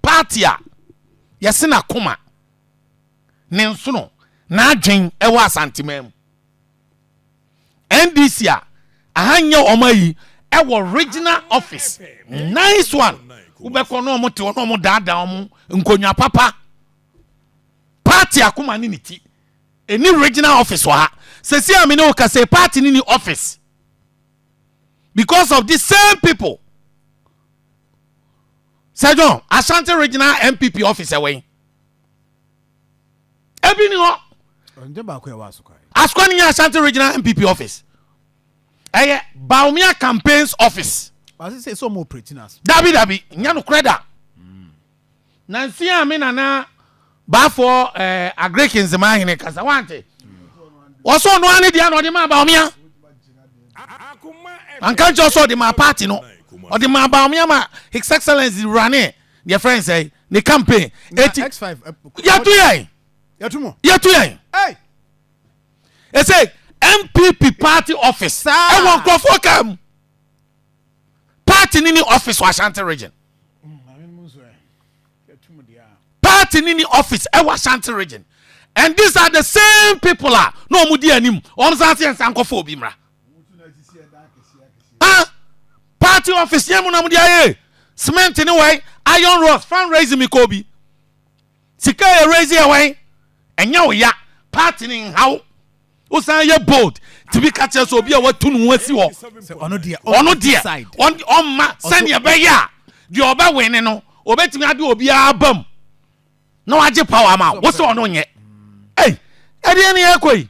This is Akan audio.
Party a yɛse n'akoma ne nsono n'adwen wɔ Asanteman mu. NDC a aha nyɛ wɔn ayi wɔ regional office. Nice one. Wobɛkɔ na wɔn te hɔ na wɔn daadaa wɔn nkonwa papa. Party akoma ne ne ti. Ɛni regional office wɔ ha. Sɛsi a me ne wo kasa party ne ni office. Because of these same people. Sir John, Ashanti Regional NPP office ɛwɔ he? Ebi ni hɔ. Ɛnyɛ baako ɛwɔ Asokwa he? Asokwa no nyɛ Ashanti Regional NPP office. Ɛyɛ Bawumia Campaigns office. Basi sɛ sɛ ɔmo operate no ase. Dabi dabi, nyɛ nokorɛ da. Nansi a me nana Baafoɔ ɛɛ Agiriki nzemaa hene kasa, wante? Wɔsɛ ɔno ara ne deɛ na ɔde maa Bawumia. Anka nkyerɛ sɛ ɔde maa party no. Ɔde maa Bawumia ma His Excellence running deɛ fɛn sɛ ne campaign. Eti yɛtu yɛn. Yɛtu yɛn. Ɛsɛ MPP party office ɛwɔ nkurɔfoɔ kaa mu. Party ni ni office wɔ Ashanti region. Party no ni office ɛwɔ Ashanti region and these are the same people a na wɔn di anim wɔn san se yɛnsan nkɔfa obi mmra ah party office yɛn mu na wɔn di ayɛ cement ne wɛn iron rods fundraising mi kɔ obi sika yɛ raise yɛ wɛn ɛnyɛ oya party ne nhaw. wosan yɛ bold tumi ka kyerɛ sɛ obi a watu ne ho asi hɔ ɔno deɛ ɔmma sɛdeɛ ɛbɛyɛ a deɛ ɔbɛwene no obɛtumi ade obiara bam na wagye power ma wo sɛ ɔno nyɛ ɛdeɛ ne ɛkɔ yi